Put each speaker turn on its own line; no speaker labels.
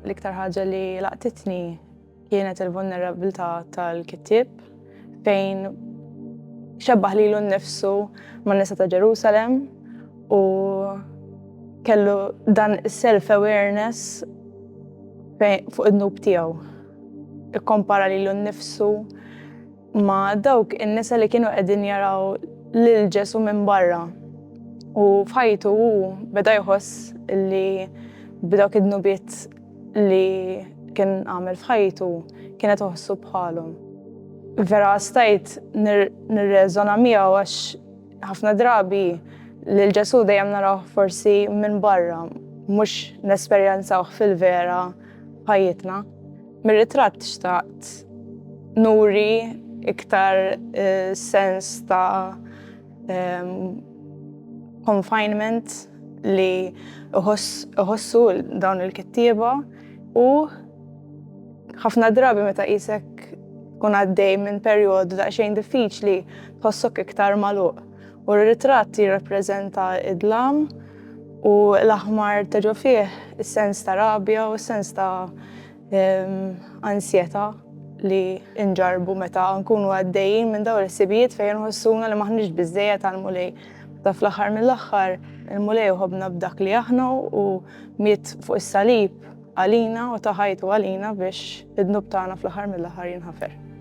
L-iktar ħaġa li laqtitni kienet il-vulnerabilità tal-kittib fejn xebbaħ li l-nifsu ma' nisa ta' Ġerusalem u kellu dan self-awareness fuq id-nub tiegħu. Ikkompara lilu nnifsu ma' dawk in-nisa li kienu qegħdin jaraw lil Ġesù minn barra. U f'ħajtu hu beda jħoss li b'dawk id-dnubiet li kien għamel f'ħajtu kienet uħossu bħalhom. Vera stajt nirreżona miegħu għax ħafna drabi lil Ġesù dejjem narawh forsi minn barra, mhux nesperjenzawh fil-vera. ħajjitna. Mir-ritratt xtaqt nuri iktar eh, sens ta' ehm, confinement li uħossu dawn il-kittieba u ħafna drabi meta isek kun għaddej minn perjodu daqsxejn diffiċli tħossok iktar maluq. U r-ritratt jirrappreżenta d-dlam u l-aħmar ta' ġo fih is-sens ta' rabja u s-sens ta' ansjetà li nġarrbu meta nkunu għaddejjin minn dawn il-ħsibijiet fejn inħossuna li m'aħniex biżżejjed għall-Mulej. Meta fl-aħħar mill-aħħar il-Mulej iħobbna b'dak li aħna u miet fuq is-salib għalina u ta ħajtu għalina biex id-dnub tagħna fl-aħħar mill-aħħar jinħafer.